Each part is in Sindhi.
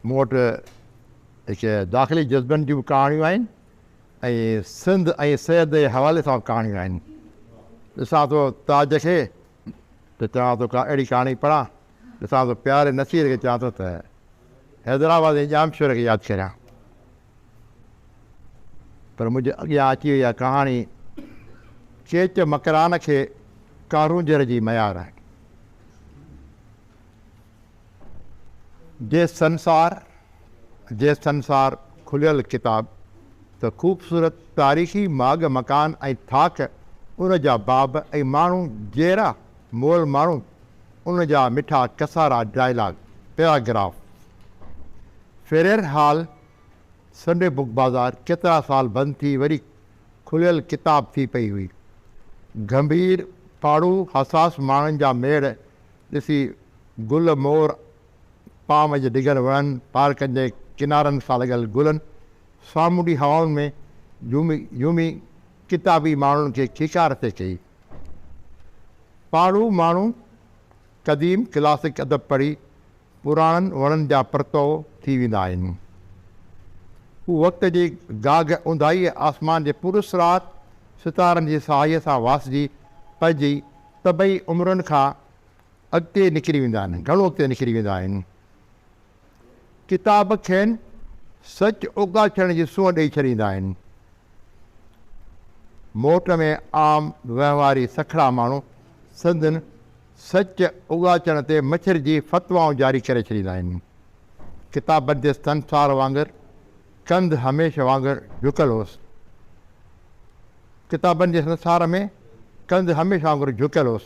مون وٽ هڪ داخلي جذبن جون به ڪهاڻيون آهن ۽ سنڌ ۽ سيد جي حوالي سان به ڪهاڻيون آهن. ڏسان ٿو تاج کي ته چوان ٿو ڪا اهڙي ڪهاڻي پڙهان، ڏسان ٿو پياري نصير کي چوان ٿو ته حيدرآباد جي ڄامشوري کي ياد ڪريان. پر منهنجي اڳيان اچي وئي اها ڪهاڻي چيچ مڪران کي ڪارونجهر جي ميار. جي سنسار، جي سنسار کليل ڪتاب ته خوبصورت تاريخي ماڳ مڪان ۽ ٿاڪ ان جا باب ۽ ماڻهو جيئرا مئل ماڻهو ان جا مٺا ڪسارا dialogue paragraph Frere Hall Sunday book بازار ڪيترا سال بند ٿي وري کليل ڪتاب ٿي پئي هئي گنڀير پاڙهو حساس ماڻهن جا ميڙ ڏسي گل مور پام جي ڊگهن وڻن، پارڪن جي ڪنارن سان لڳل گلن، سامونڊي هوائن ۾ جهومي جهومي ڪتابي ماڻهن کي کيڪار ٿي ڪئي. پاڙهو ماڻهو قديم ڪلاسڪ ادب پڙهي پراڻن وڻن جا پرتوء ٿي ويندا آهن. هو وقت جي گاگهه اونداهيء آسمان جي پراسرار ستارن جي سهائيء سان واسجي پنهنجي سڀئي عمرن کان اڳتي نڪري ويندا آهن، گهڻو اڳتي نڪري ويندا آهن. ڪتاب کين سچ اوڳاڇڻ جي سونهن ڏئي ڇڏيندا آهن. موٽ ۾ عام وهنواري سکڙا ماڻهو سندن سچ اوڳاچڻ تي مڇرجي فتوائون جاري ڪري ڇڏيندا آهن. ڪتاب بنديستن سار وانگر ڪنڌ هميشه وانگر جهڪل هوس. ڪتابن جي سنسار ۾ ڪنڌ هميشه وانگر جهڪل هوس.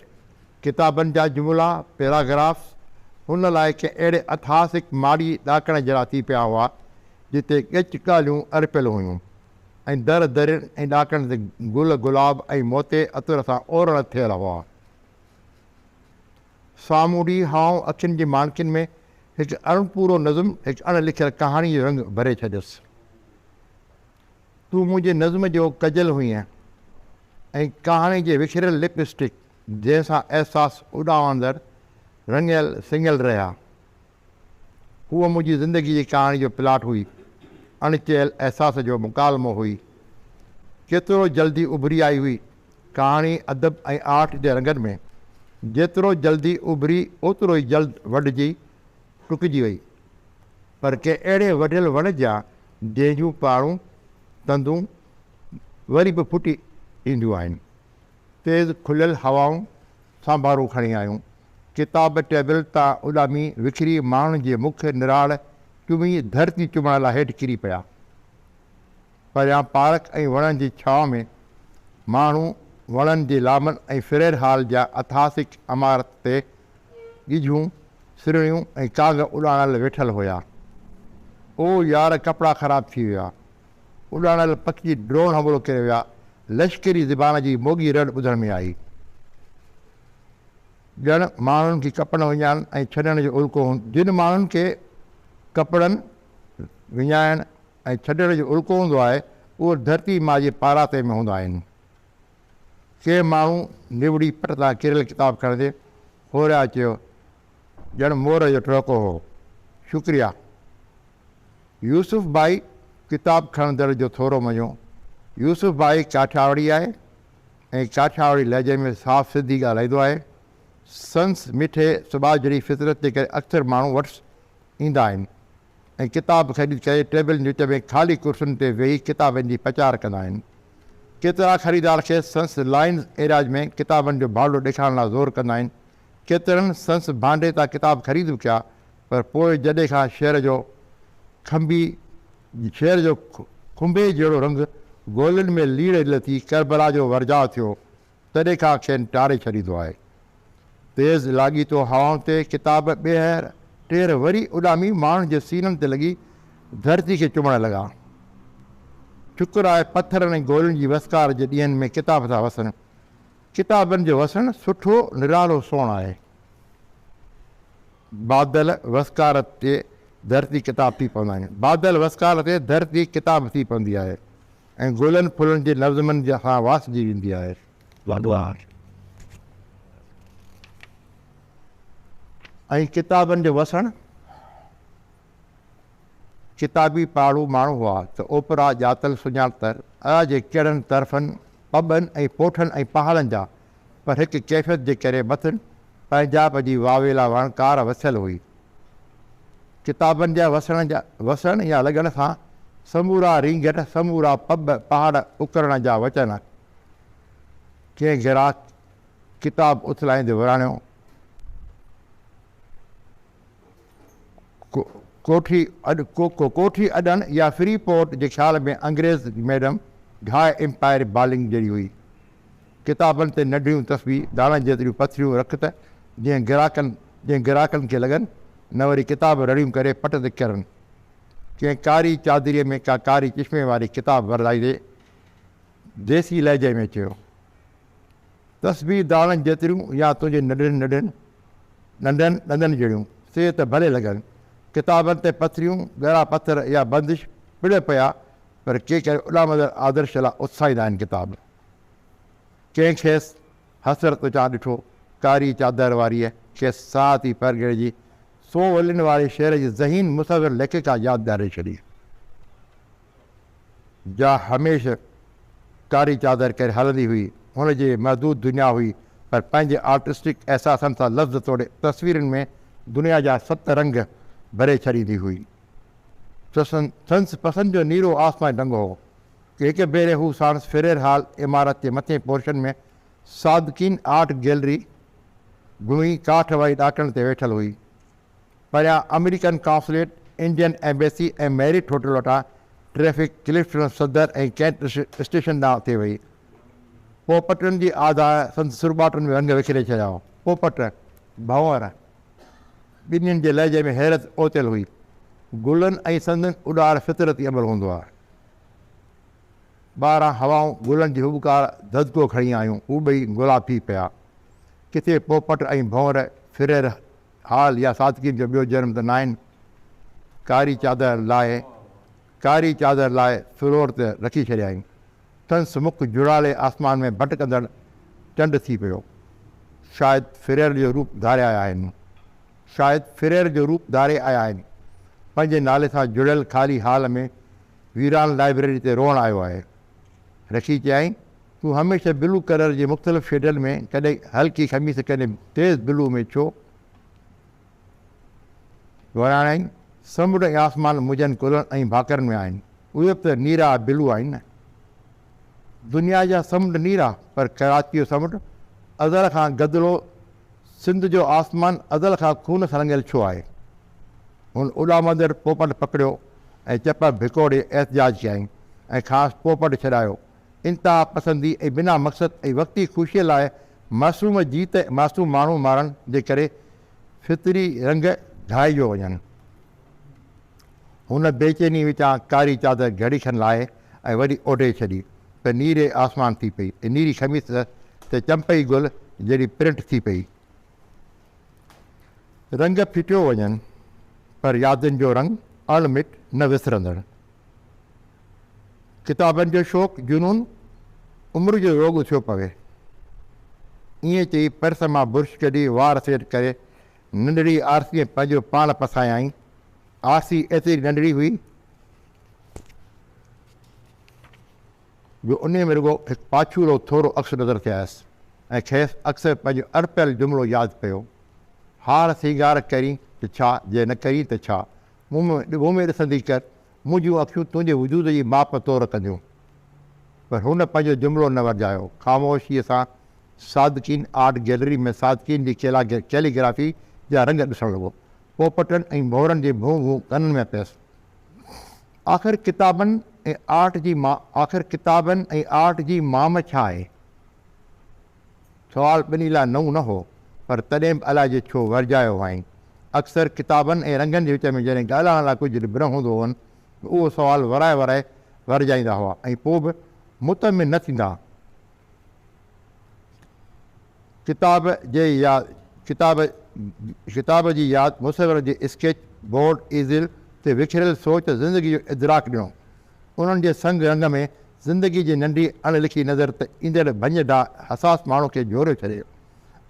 ڪتابن جا جملا، Paragraphs، هن لاء ڪنهن اهڙي اتهاسڪ ماڙيء ڏاڪڻ جهڙا ٿي پيا هئا، جتي ڳچ ڳالهيون ارپيل هيون ۽ در درين ۽ ڏاڪڻن تي گل گلاب ۽ موتي عطر سان اورڻ ٿيل هئا. سامونڊي هائون اکين جي ماڻڪين ۾ هڪ اڻ پورو نظم، هڪ اڻ لکيل ڪهاڻي جو رنگ ڀري ڇڏيس. تون منهنجي نظم جو ڪجل هئين ۽ ڪهاڻي جي وکريل لپ اسٽڪ جنهن سان احساس اڏامندڙ رڱيل سڱيل رهيا. هوء منهنجي زندگي جي ڪهاڻي جو پلاٽ هئي، اڻ چيل احساس جو مڪالمو هئي. ڪيترو جلدي اڀري آئي هئي ڪهاڻي ادب ۽ آرٽ جي رنگن ۾. جيترو جلدي اڀري اوترو ئي جلد وڍجي ٽڪجي وئي. پر ڪنهن اهڙي وڍيل وڻ جا جنهن جون پاڙون، تندون، وري به ڦٽي اينديون آهن. تيز کليل هوائن سان ڀارو کڻي آيون. ڪتاب ٽيبل تان اڏامي وکري ماڻهن جي مک نراڙ چمي ڌرتي چمڻ لاء هيٺ ڪري پيا. پريان پارڪ ۽ وڻن جي ڇانو ۾ ماڻهو وڻن جي لامن ۽ فرير هال جا اتهاسڪ عمارت تي ڳجهون، سرڻيون ۽ ڪانگ اڏاڻل ويٺل هيا. او يار ڪپڙا خراب ٿي ويا. اڏامڙيل پکي ڊرون حملو ڪري ويا، لشڪري زبان جي موڳي رڙ ٻڌڻ ۾ آئي، ڄڻ ماڻهن کي ڪپڙن وڃائڻ ۽ ڇڏڻ جو الڪو هوندو آهي، جن ماڻهن کي ڪپڙن وڃائڻ ۽ ڇڏڻ جو الڪو هوندو آهي، اهي ڌرتي ماء جي پاراٿي ۾ هوندا آهن. ڪي ماڻهو نوڙي پٽ تان ڪريل ڪتاب کڻندي هوريا چيو، ڄڻ مور جو ٽهڪو هو. شڪريا. يوسف ڀائي ڪتاب کڻندڙ جو ٿورو مڃو، يوسف ڀائي ڪاٺياوڙي آهي ۽ ڪاٺياوڙي لهجي ۾ صاف سنڌي ڳالهائيندو آهي. سندس مٺي سٻاجهڙي فطرت جي ڪري اڪثر ماڻهو وٽس ايندا آهن ۽ ڪتاب خريد ڪري ٽيبلن جي وچ ۾ خالي ڪرسين تي ويهي ڪتابن جي پچار ڪندا آهن. ڪيترا خريدار کيس سندس لائنز ايراج ۾ ڪتابن جو ڀانڊو ڏيکارڻ لاء زور ڪندا آهن. ڪيترن سندس ڀانڊي تان ڪتاب خريد به ڪيا پر پوء جڏي کان شعر جو کنڀي شعر جو کنڀي جهڙو رنگ گولن ۾ ليڙ ليڙ ٿي ڪربلا جو ورجاء ٿيو، تڏي کان کين ٽاري ڇڏيندو آهي. تيز لاڳيتو هوائن تي ڪتاب ٻيهر ٽيهر وري اڏامي ماڻهن جي سينن تي لڳي ڌرتي کي چمڻ لڳا. شڪر آهي پٿرن ۽ گولن جي وسڪار جي ڏينهن ۾ ڪتاب ٿا وسن. ڪتابن جو وسڻ سٺو، نرالو سونهن آهي. بادل وسڪار تي ڌرتي ڪتاب ٿي پوندا آهن. بادل وسڪار تي ڌرتي ڪتاب ٿي پوندي آهي ۽ گلن ڦلن جي نظمن سان واسجي ويندي آهي. وهندو آهي ۽ ڪتابن جو وسڻ ڪتابي پاڙهو ماڻهو هئا ته اوپرا ڄاتل سڃاڻتر اها جي ڪهڙن طرفن، پٻن ۽ پوٺن ۽ پهاڙن جا پر هڪ ڪيفيت جي ڪري مٿن پنهنجاب جي واويلا وڻڪار وسيل هئي. ڪتابن جا وسڻ جا وسڻ يا لڳڻ سان سمورا رينگٽ، سمورا پٻ پهاڙ اڪرڻ جا وچن. ڪنهن گراهڪ ڪتاب اٿلائيندي وراڻيو، ڪوٺي ڪوٺي اڏڻ يا فري پورٽ جي خيال ۾ انگريز ميڊم گهائي امپائر بالنگ جهڙي هئي. ڪتابن تي ننڍيون تسبيح داڻا جيتريون پٿريون رک ته جيئن گراڪن جيئن گراڪن کي لڳن نه وري ڪتاب رڙيون ڪري پٽ تي ڪرن. ڪنهن ڪاري چادريء ۾ ڪا ڪاري چشمي واري ڪتاب ورلائيندي ديسي لهجي ۾ چيو، تسبيح داڻن جيتريون يا تنهنجي ننڍين ننڍين ڏندن ڏندن جهڙيون سي ته ڀلي لڳن. ڪتابن تي پٿريون، ڳرا پٿر يا بندش پڙهيو پيا پر ڪي ڪري اڏامندڙ آدرش لاء اتساهيندا آهن ڪتاب. ڪنهن کيس حسرت چان ڏٺو، ڪاري چادر واريء کيس ساعت ئي پرگهڙ جي سون ولين واري شعر جي ذهين مصور ليکڪا ياد ڏياري ڇڏي، جا هميشھ ڪاري چادر ڪري هلندي هئي. هن جي محدود دنيا هئي، پر پنهنجي آرٽسٽڪ احساسن سان لفظ توڙي تصويرن ۾ دنيا جا ست رنگ ڀري ڇڏيندي هئي. سنس پسند جو نيرو آسماني رنگ هو. هڪ ڀيري هو ساڻس فريئر هال عمارت جي مٿين پورشن ۾ صادقين آرٽ گيلري گهمي ڪاٺ واري ڏاڪڻ تي ويٺل هئي. پريان American consulate, Indian embassy ۽ Marriott hotel وٽان traffic Clifton Saddar ۽ cantt station ڏانهن ٿي وئي. پوپٽن جي آڌاء سندس سرٻاٽن ۾ رنگ وکري ڇڏيا هئا. پوپٽ، ڀنور، ٻنين جي لهجي ۾ حيرت اوتيل هئي. گلن ۽ سندن اڏار فطرتي عمل هوندو آهي. ٻاهران هوائون گلن جي هٻڪار ددڪو کڻي آيون، هو ٻئي گلا ٿي پيا. ڪٿي پوپٽ ۽ ڀونر ڦرير حال يا صادقين جو ٻيو جنم ته ناهن. ڪاري چادر لاهي ڪاري چادر لاهي فلور تي رکي ڇڏيائين. سندس مک جهڙالي آسمان ۾ ڀٽڪندڙ چنڊ ٿي پيو. شايد ڦريل جو روپ ڌاريا آهن. شايد فريئر جو روپ ڌاري آيا آهن. پنهنجي نالي سان جڙيل خالي هال ۾ ويران لائبريري تي روئڻ آيو آهي. رشي چيائين، تون هميشه بلو ڪلر جي مختلف شيڊن ۾ ڪڏهن هلڪي خميس ڪڏهن تيز بلو ۾ ڇو وراڻين؟ سمنڊ ۽ آسمان منهنجن ڪلهن ۽ ڀاڪرن ۾ آهن. اهي به ته نيرا بلو آهن نه. دنيا جا سمنڊ نيرا پر ڪراچي جو سمنڊ ازل کان گدلو سنڌ جو آسمان ازل کان خون سان رڱيل ڇو آهي؟ هن اڏامندڙ پوپٽ پڪڙيو ۽ چپ ڀڪوڙي احتجاج ڪيائين ۽ کانئس پوپٽ ڇڏايو. انتها پسندي ۽ بنا مقصد ۽ وقتي خوشيء لاء معصوم جيت ۽ معصوم ماڻهو مارڻ جي ڪري فطري رنگ گهائجو وڃن. هن بي چيني وچان ڪاري چادر گهڙي کن لاهي ۽ وري اوڍي ڇڏي ته نيري آسمان ٿي پئي ۽ نيري خميس ته چمپئي گل جهڙي پرنٽ ٿي پئي. رنگ ڦٽيو وڃن پر يادن جو رنگ اڻ مٽ نه وسرندڙ. ڪتابن جو شوق جنون عمر جو روڳ ٿيو پوي. ائين چئي پرس مان برش ڪڍي وار سيٽ ڪري ننڍڙي آرسيء پنهنجو پاڻ پسايائين. آرسي ايتري ننڍڙي هئي جو انهيء ۾ رڳو هڪ پاڇورو ٿورو عڪس نظر ٿي آيس ۽ کيس اڪثر پنهنجو اڻپيل جملو ياد پيو، هاڻ سينگار ڪرين ته ڇا، جي نه ڪرين ته ڇا، مون ۾ ڏگهو ۾ ڏسندي ڪر، منهنجون اکيون تنهنجي وجود جي ماپ طور ڪنديون. پر هن پنهنجو جملو نه ورجايو، خاموشيء سان صادقين آرٽ گيلري ۾ صادقين جي ڪيلي گرافي جا رنگ ڏسڻ لڳو. پوپٽن ۽ ڀونرن جي ڀون ڀون ڪنن ۾ پيس. آخر ڪتابن ۽ آرٽ جي مام ڇا آهي؟ سوال ٻنهي لاء نئون نه هو، پر تڏهن به الائي جو ڇو ورجايو هئائين. اڪثر ڪتابن ۽ رنگن جي وچ ۾ جڏهن ڳالهائڻ لاء ڪجهه به نه هوندو هئن ته اهو سوال ورائي ورائي ورجائيندا هئا ۽ پوء به مطمئن نه ٿيندا ڪتاب جي ياد ڪتاب ڪتاب جي ياد مصور جي اسڪيچ بورڊ ايزل تي وکريل سوچ زندگي جو ادراڪ ڏنو انهن جي سنگ رنگ ۾ زندگي جي ننڍي اڻ لکي نظر تي ايندڙ ڀڃ ڊاء حساس ماڻهو کي جهوريو ڇڏي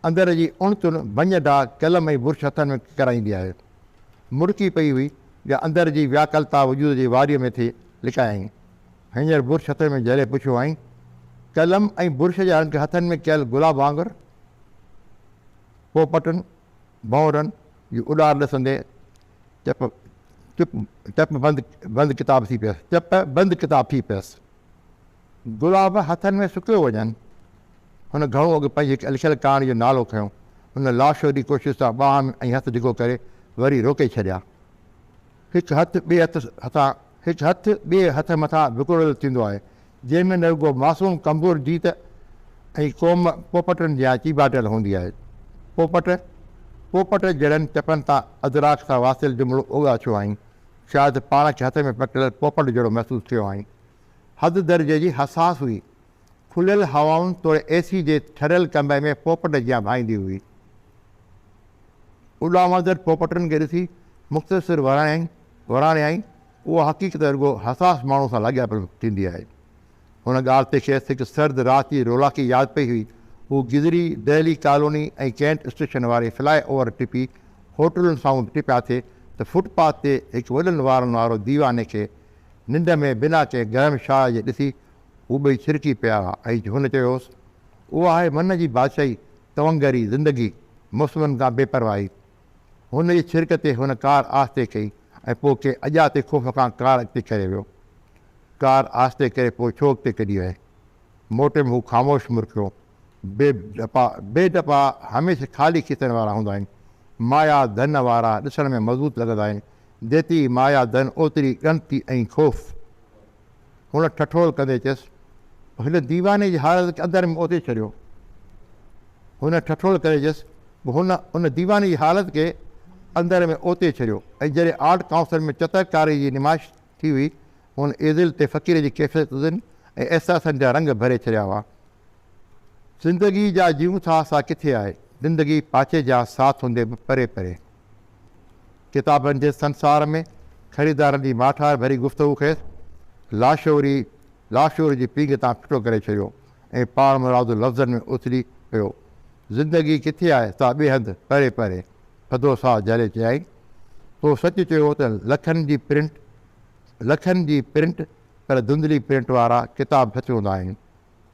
اندر جي اڻ تن ڀڃ ڊاء قلم ۽ برش هٿن ۾ ڪرائيندي آهي مرڪي پئي هئي جا اندر جي وياڪلتا وجود جي واريء ۾ ٿي لڪايائين هينئر برش هٿن ۾ جهلي پڇيو هئائين، قلم ۽ برش جا رنگ هٿن ۾ ڪيل گلاب وانگر پوپٽن، ڀؤنرن، جي اڏار ڏسندي چپ چپ چپ بند بند ڪتاب ٿي پيس چپ بند ڪتاب ٿي پيس. گلاب هٿن ۾ سڪيو وڃن. هن گهڻو اڳ پنهنجي هڪ لکيل ڪهاڻي جو نالو کنيو. هن لاشعوري ڪوشش سان ٻانهن ۽ هٿ ڊگهو ڪري وري روڪي ڇڏيا. هڪ هٿ ٻئي هٿ هٿان هڪ هٿ ٻئي هٿ مٿان وڪوڙيل ٿيندو آهي، جنهن ۾ نه رڳو معصوم ڪمزور جيت ۽ قوم پوپٽن جيان چيڀاٽيل هوندي آهي. پوپٽ، پوپٽ جهڙن چپن تان ادراڪ سان واصل جملو اوڳاڇيو هئائين، شايد پاڻ کي هٿ ۾ پڪڙيل پوپٽ جهڙو محسوس ٿيو هئائين. حد درجي جي حساس هئي. کليل هوائن توڙي اي سي جي ٺريل ڪمري ۾ پوپٽ جيان ڀائيندي هئي. اڏامندڙ پوپٽن کي ڏسي مختصر وراڻيائين، وراڻيائين، اها حقيقت رڳو حساس ماڻهو سان لاڳاپيل ٿيندي آهي. هن ڳالهه تي کيس هڪ سرد رات جي رولاڪي ياد پئي هئي. هو گذري دهلي ڪالوني ۽ ڪينٽ اسٽيشن واري فلاء اوور ٽپي هوٽلن سامهون ٽپيا ٿي ته فٽ پاٿ تي هڪ وڏن وارن وارو ديواني کي ننڊ ۾ بنا ڪنهن گرم شاهه جي ڏسي هو ٻئي ڇرڪي پيا هئا ۽ هن چيو هوس، اها آهي من جي بادشاهي، تونگري، زندگي، موسمن کان بي پرواهي، هن جي ڇرڪ تي هن ڪار آهستي ڪئي ۽ پوء ڪنهن اڄاتي خوف کان ڪار اڳتي ڪري ويو. ڪار آهستي ڪري پوء ڇو اڳتي ڪڍي ويئي؟ موٽي ۾ هو خاموش مرڪيو. بي ڊپا بي ڊپا هميشه خالي کيسن وارا هوندا آهن. مايا ڌن وارا ڏسڻ ۾ مضبوط لڳندا آهن. جيتري مايا ڌن اوتري ڳڻتي ۽ خوف. هن ٺٺول ڪندي چيس، هن ديواني جي حالت کي اندر ۾ اوتي ڇڏيو. هن ٺٺول ڪندي چيس، هن ان ديواني جي حالت کي اندر ۾ اوتي ڇڏيو ۽ جڏهن آرٽ ڪائونسل ۾ چتر ڪاري جي نمائش ٿي هئي، هن ايزل تي فقير جي ڪيفيتن ۽ احساسن جا رنگ ڀري ڇڏيا هئا. زندگي جا جيئون ٿا سا ڪٿي آهي، زندگي پاڇي جا ساٿ هوندي به پري پري. ڪتابن جي سنسار ۾ خريدارن جي ماٺار ڀري گفتگو کيس لاشعوري لاشعور جي پينگهه تان ڦٽو ڪري ڇڏيو ۽ پاڻمرادو لفظن ۾ اٿلي پيو. زندگي ڪٿي آهي سا ٻئي هنڌ پري پري. ٿڌو ساهه جهلي چيائين، تو سچ چيو ته لکن جي پرنٽ لکن جي پرنٽ پر ڌنڌلي پرنٽ وارا ڪتاب سچ هوندا آهن.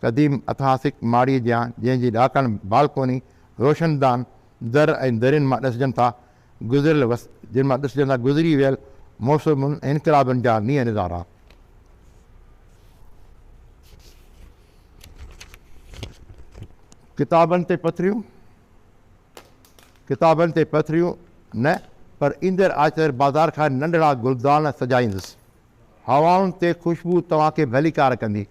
قديم اتهاسڪ ماڙيء جيان جنهن جي ڏاڪڻ بالڪوني روشندان در ۽ درين مان ڏسجن ٿا گذريل وس جن مان ڏسجن ٿا گذري ويل موسمن ۽ انقلابن جا نينهن نظارا. ڪتابن تي پٿريون ڪتابن تي پٿريون نه پر ايندڙ آچر بازار کان ننڍڙا گلدان سجائيندس هوائن تي خوشبو توهان کي ڀليڪار ڪندي.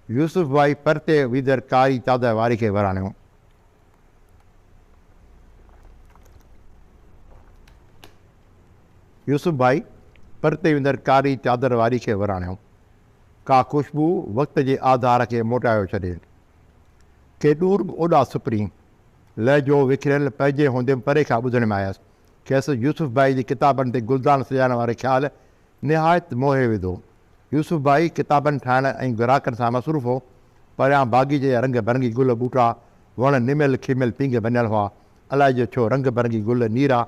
يوسف ڀائي پرتي ويندڙ ڪاري چادر واري کي وراڻيو. يوسف ڀائي پرتي ويندڙ ڪاري چادر واري کي وراڻيو. ڪا خوشبو وقت جي آڌار کي موٽايو ڇڏي. ڪي ڏور به اوڏا سپري. لهجو وکريل پنهنجي هوندي به پري کان ٻڌڻ ۾ آيس. کيس يوسف ڀائي جي ڪتابن تي گلدان سجائڻ واري خيال نهايت موهي وڌو. يوسف ڀائي ڪتابن ٺاهڻ ۽ گراهڪن سان مصروف هو. پريان باغيچي جا رنگ برنگي گل ٻوٽا، وڻ نميل کيميل پينگهه ڀڃل هئا. الائي جو ڇو رنگ برنگي گل نيرا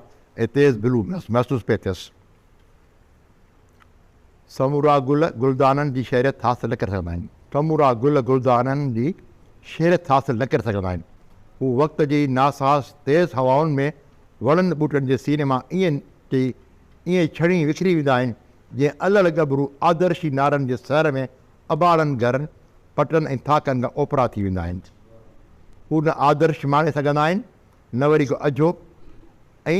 ۽ تيز بلو محسوس پئي ٿيس. سمورا گل گلدانن جي شهريت حاصل نه ڪري سگهندا آهن. سمورا گل گلدانن جي شهريت حاصل نه ڪري سگهندا آهن. هو وقت جي ناساز تيز هوائن ۾ وڻن ٻوٽن جي سيني مان ائين چئي ائين ڇڙهين وکري ويندا آهن، جيئن الهڙ ڳڀرو آدرشي نارن جي سحر ۾ اباڙن گهرن، پٽن ۽ ٿاڪن کان اوپرا ٿي ويندا آهن. هو نه آدرش ماڻي سگهندا آهن، نه وري ڪو اجهو ۽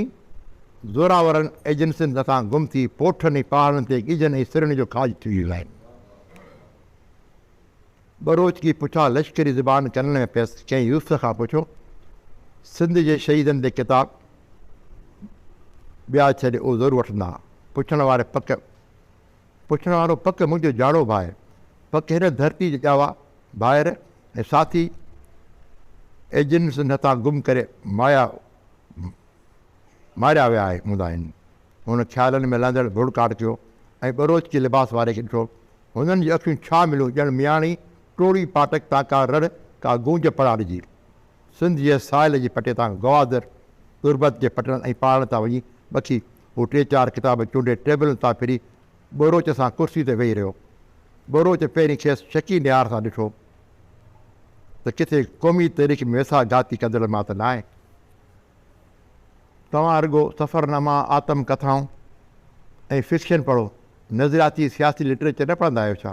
زورآورن ايجنسين مٿان گم ٿي پوٺن ۽ پهاڙن تي ڳجهن ۽ سرڻين جو کاڄ ٿي ويندا آهن. ٻروچ جي پٺيان لشڪري زبان ڪنن ۾ پيس، چيائين يوسف کان پڇو، سنڌ جي شهيدن تي ڪتاب ٻيا ڇڏ اهو ضرور وٺندا. پڇڻ واري پڪ پڇڻ وارو پڪ منهنجو جاڙو ڀاء، پڪ هن ڌرتي جا ڄاوا ڀائر ۽ ساٿي ايجنٽ سنڌ هٿان گم ڪري مايا ماريا ويا هوندا آهن. هن خيالن ۾ لهندڙ ڌوڙ ڪاٽ ڪيو ۽ ٻروچ جي لباس واري کي ڏٺو هنن جي اکيون ڇا مليون ڄڻ مياڻي ٽوڙي ڦاٽڪ تان ڪا رڙ ڪا گونج پڙاڏ جي. سنڌ جي ساحل جي پٽي تان گوادر، تربت جي پٽڙن ۽ پهاڙن تان وڃي مٿي هو ٽي چار ڪتاب چونڊي ٽيبلن تان ڦري ٻروچ سان ڪرسي تي ويهي رهيو. ٻروچ پهرين کيس شڪي نهار سان ڏٺو ته ڪٿي قومي تاريخ ۾ ويساهه گهاتي ڪندڙن مان ته ناهي. توهان رڳو سفرناما، آتم ڪٿائون ۽ فڪشن پڙهو، نظرياتي سياسي لٽريچر نه پڙهندا آهيو ڇا؟